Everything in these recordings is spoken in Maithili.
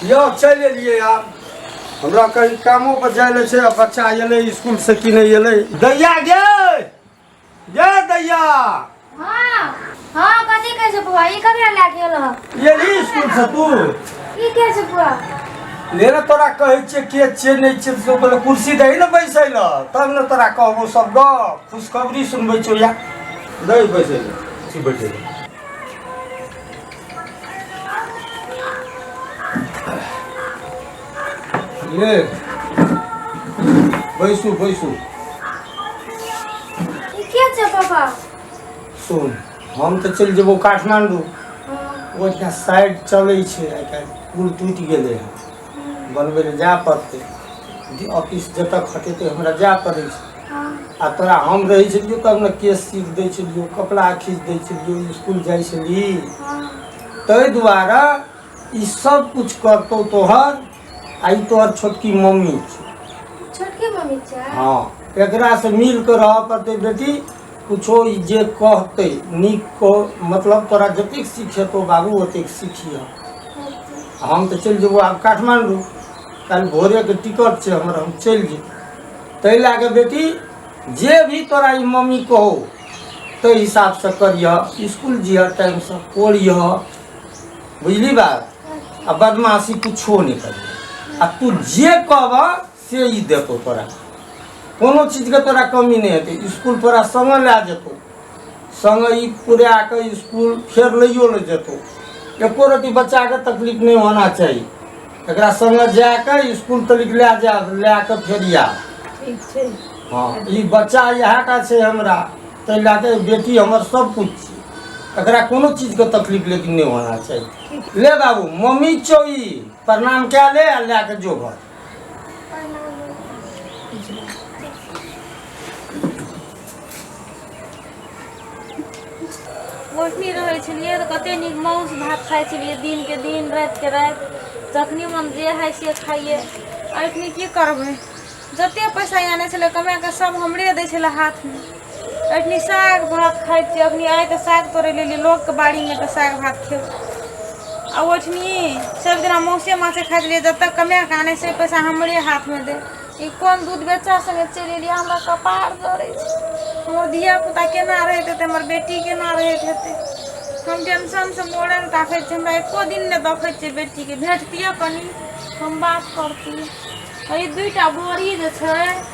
यौ चलि एलियै आब हमरा कहीं कामो पर जाय ले छै आ बच्चा एलै स्कूल से कि नहीं एलै दैया गे गे दैया हाँ हाँ कथी कहै छै बुआ ई ककरा लए गेल हँ एली स्कूल से तू ई के छै बुआ ले ने तोरा कहै छियै के छियै नहि छियै से बोले कुर्सी दही ने बैसै लऽ तब ने तोरा कहबो सब गप खुशखबरी सुनबै छौ या दही बैसै लऽ बैठे ये बैसू बैसू ई के छै पापा सुन हम तऽ चलि जेबौ काठमांडू ओहिठाम साइड चलै छै आइ काल्हि पुल टूटि गेलै हँ बनबै लए जाय पड़तै डी- ऑफिस जतऽ खटेतै हमरा जाय पड़ै छै हाँ आ तोरा हम रहै छलियौ तब ने केस सीख दै छलियौ कपड़ा खींच दै छलियौ स्कूल जाइ छली हाँ ताहि दुआरे ई सब कुछ करतौ तोहर आ ई तोहर छोटकी मम्मी छै छोटकी मम्मी छै हाँ एकरा से मिल के रहऽ पड़तै बेटी किछो ई जे कहतै नीक कह मतलब तोरा जतेक सीख हेतौ बाबू ओतेक सीखिह हम तऽ चलि जेबौ आब काठमाण्डू काल्हि भोरेके टिकट छै हमर हम चलि जेबै ताहि लए कऽ बेटी जे भी तोरा ई मम्मी कहो ताहि हिसाबसँ करिह इसकुल जिह टाइमसँ पढ़िह बुझली बात आ बदमाशी किछो नहि करिह आ तू जे कहबह से ई देतो तोरा कोनो चीजके तोरा कमी नहि हेतै इसकुल तोरा सङ्गे लए जेतौ सङ्गे ई पुरा कऽ इसकुल फेर लैयो लए जेतौ एको रति बच्चाके तकलीफ नहि होना चाही एकरा सङ्गे जा कऽ इसकुल तलिक लए जा लए कऽ फेर आ ठीक छै हँ ई बच्चा इएह टा छै हमरा ताहि लए कऽ बेटी हमर सब किछु छी एकरा कोनो चीजके तकलीफ लेकिन नहि होना चाही ले बाबू मम्मी चौ ई प्रणाम कए ले आ लए कऽ जो घर गोठनी रहै छलियै तऽ कते नीक माउस भात खाइ छलियै दिनके दिन रातिके राति जखनी मन जे हइ से खाइए अखनी की करबै जते पैसा आनै छलै कमाए कऽ सब हमरे दै छलै हाथमे अखनी साग भात खाइ छी अखनी आइ तऽ साग तोड़े लेली लोकके बाड़ीमे तऽ साग भात खेब आ ओठनी सब दिना मौसे माछे खाइ छलियै जतऽ कमे के आनै से पैसा हमरे हाथमे दे ई कोन दूध बेचा सङ्गे चलि एलियै हमरा कपार जड़ै छै हमर धियापुता केना रहैत हेतै हमर बेटी केना रहैत हेतै हम टेंशनसँ मोड़े लए ताकै छी हमरा एको दिन नहि देखै छियै बेटीके भेटतियै कनि हम बात करतियै आ ई दुइटा बोरी जे छै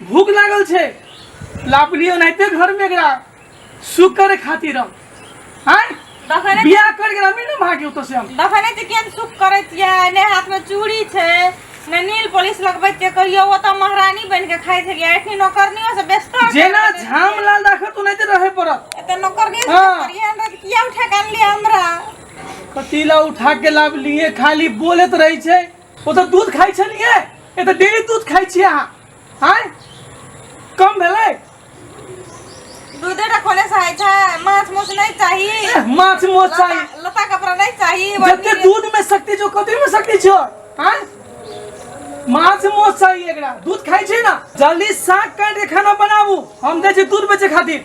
भूख लागल छै लापली ओनाहिते घर में एकरा सुख करे खातिर हम हैं देखने बियाह कर के हमी ना भागे ओतऽ से हम देखने तऽ केहन सुख करै छियै ने हाथमे चूड़ी छै ने नील पोलिस लगबैत छियै कहियो ओ तऽ महारानी बनि कऽ खाइ छलियै एखनी नौकरनियो से व्यस्त जेना झाम लाल राखत ओनाहिते रहे पड़त एतऽ नौकरनियो से हाँ। करियै हमरा तऽ किया उठा कऽ अनलियै हमरा कतीला उठा के लाभ लिए खाली बोलत रही छै ओ तऽ दूध खाइ छलियै ए तऽ डेली दूध खाइ छियै अहाँ आँय कम भेलै दूधे टा खोले से होइ छै माछ मौस नहि चाही एह, माछ मोच चाही लता- लता कपड़ा नहि चाही जते बल्कि- दूध में शक्ति जो कथी में शक्ति छो आँय? माछ मोच चाही एकरा दूध खाइ छै ना जल्दी साग काट के खाना बनाबू हम दै छी दूध बेचे खातिर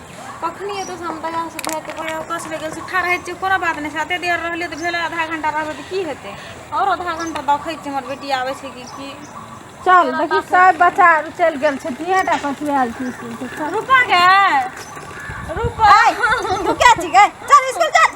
कखनी एतऽ से हम बाजार से भेट पड़े ओकर से गेल से ठाढ़ रहै कोनो बात नहीं साते देर रहलियै तऽ भेलै आधा घंटा रहबै तऽ की हेतै और आधा घंटा देखै छियै हमर बेटी आबै छै कि की चल देखी सब बच्चा चल गेल छै तिहे टा पछुआल छी स्कूल से चल रुपा गए रुपा तू क्या छी गए चल स्कूल चल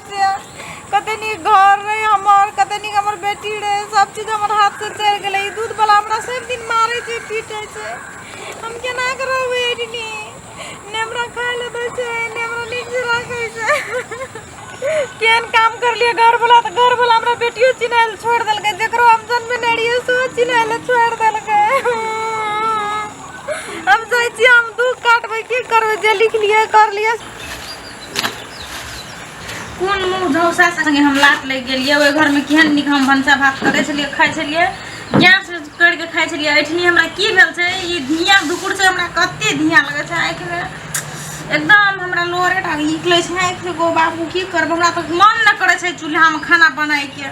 कते नीक घर रहे हमर कते नीक हमर बेटी रहे सब चीज हमर हाथ से चढ़ गेले ई दूध वाला हमरा सब दिन मारे छै पीटे छै हम केना के रहबै एडी ने हमरा खाय ले दै छै ने हमरा नीक से राखे छै केन काम कर लिए घर वाला तो घर वाला हमरा बेटियो चिन्है ले छोड़ देलकै जकरो हम जन्म ने रहिए सो चिन्है ले छोड़ देलकै हम जाइ छी हम दुख काटबै की करबै जे लिख लिए कर लिए कोन मुँह झौसा संगे हम लात लागि गेलियै ओहि घरमे केहन नीक हम भनसा भात करै छलियै खाइ छलियै गैस करि कऽ खाइ छलियै एहिठिनी हमरा की भेल छै ई धिया धुकुर छै हमरा कते धिया लगै छै आँखिमे एकदम हमरा लोरे टा निकलै छै आँखि एगो बाबू की करब हमरा तऽ मन नहि करै छै चूल्हामे खाना बनाइके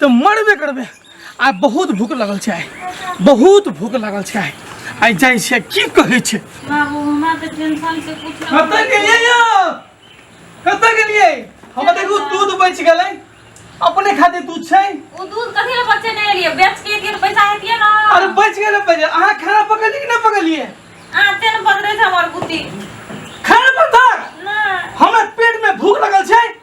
तऽ मरबे करबे आ बहुत भूख लगल छै आइ बहुत भूख लगल छै आइ आइ जाइ छै की कहै छै बाबू हमरा तऽ टेंशन से कुछ ना कतऽ गेलियै यौ कतऽ गेलियै हम देखू दूध बचि गेलै अपने खातिर दूध छै ओ दूध कथी ले बच्चे नहीं लिए बेच के के पैसा हेतिए ना अरे बचि गेलै पहिले अहाँ खाना पकड़लियै कि नहि पकड़लियै आ तेन पकड़े थे हमर बुद्धि खाना पकड़ ना हमरा पेट में भूख लगल छै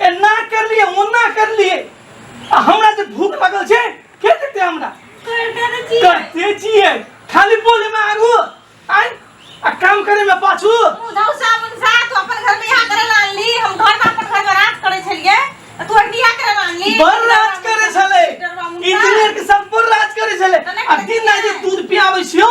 एना कर लिए ओना कर लिए आ हमरा से भूख लागल छै के देते हमरा करते छिए खाली बोले में आगू आय आ काम करे में पाछू उधौ साबुन सा तू अपन घर में यहाँ करे लानली हम घर में अपन घर में रात करे छलिए आ तू अभी यहाँ करे लानली बर राज करे छले इंजीनियर के सब पर राज करे छले आ दिन रात जे दूध पियाबै छियो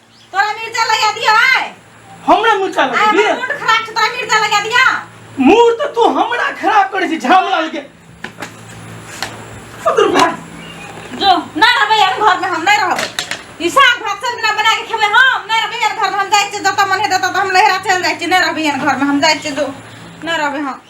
तोरा मिर्चा लगा दियो है हमरा मुचा आय लगे हमर मूड खराब छै तोरा मिर्चा लगा दिया मूड तऽ तू हमरा खराब करै छी झामला लगे फुदुर भाग जो ना रहबै हम घर में हम नहीं रहबै ई साग भात सब दिना बना के खेबै हम नहीं रहबै यार घर में हम जाय छियै जतऽ मन हेतै ततऽ हम लहरा चल जाय छियै नहीं रहबै यार घर में हम जाय छियै जो नहीं रहबै हम